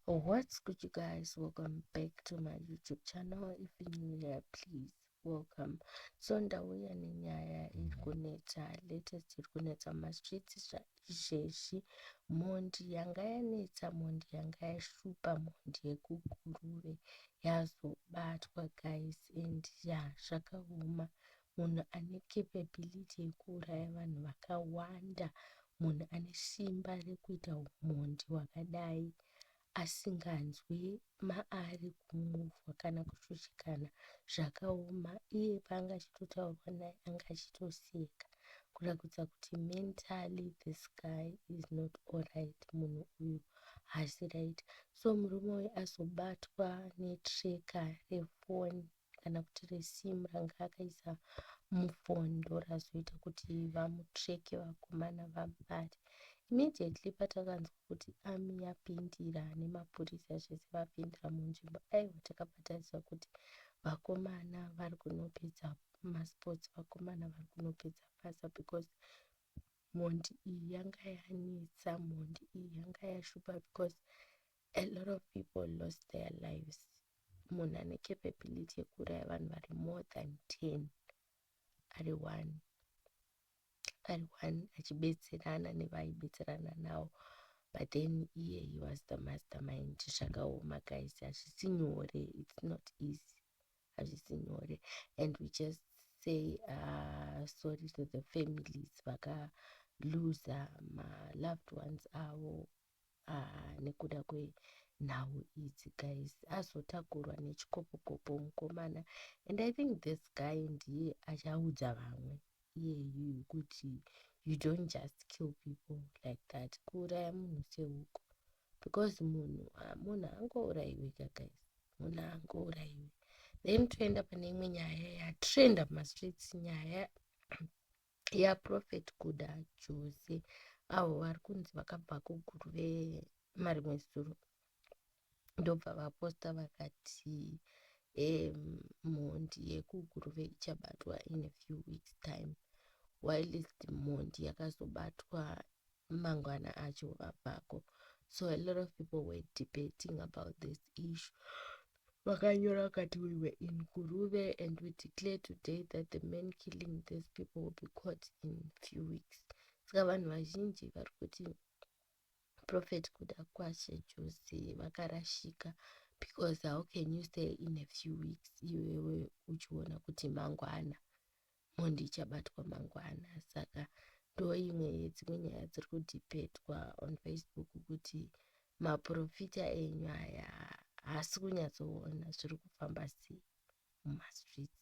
what's good you guys welcome back to my youtube channel if you new here please welcome so ndauya nenyaya iri kunetsa latest iri kunetsa mumastreets zvezvi mhondi yanga yanetsa mhondi yanga yashupa mhondi yekuguruve yazobatwa guys and ya zvakaoma munhu ane capability yekuuraya vanhu vakawanda munhu ane simba rekuita umhondi hwakadai asinganzwi maari kumuvhwa kana kushushikana zvakaoma iye paanga achitotaurwa naye anga achitoseka kurakudza kuti mentally this guy is not allright munhu uyu haasi right so murume uyu azobatwa netreka refoni kana kuti resim ranga akaisa mufon ndorazoita kuti vamutreke vakomana vamubate immediately patakanzwa kuti ami yapindira nemapurisa zvese vapindira munzvimbo aiwa takabataidzwa kuti vakomana vari kunopedza masports vakomana vari kunopedza basa because mhondi iyi yanga yanetsa mhondi iyi yanga yashupa because a lot of people lost their lives munhu ane capability yekuuraya vanhu vari more than 10 ari one ari one achibetserana nevaibetserana nawo but then iye he was the mastermind zvakaoma guys hazvisi nyore it's not easy hazvisi nyore and we just say uh, sorry to the families vaka loser ma loved ones avo haa nekuda kwenhau idzi guys azotakurwa nechikopokopo mukomana and i think this guy ndiye achaudza vamwe iyeyu kuti you don't just kill people like that kuuraya munhu sehuku because munhu ah, munhu angourayiwe ka guys munhu angourayiwe then toenda pane imwe nyaya yatrenda mumastreets nyaya ya prophet kuda jose avo vari kunzi vakabva kuguru vemarimwe zuro ndobva vaposta vakati um, mhondi yekuguruve ichabatwa in a few weeks time whilst mhondi yakazobatwa mangwana acho vabvako so a lot of people were debating about this issue vakanyora vakati we were in guruve and we declare today that the man killing these people will be caught in few weeks saka vanhu vazhinji vari kuti prophet kuda kwashe jose vakarashika because how can you say in a few weeks iwewe uchiona kuti mangwana mhondi ichabatwa mangwana saka ndoimwe yedzimwe nyaya dziri kudhipetwa on facebook kuti maprofita enyu aya haasi kunyatsoona zviri kufamba sei mumastreets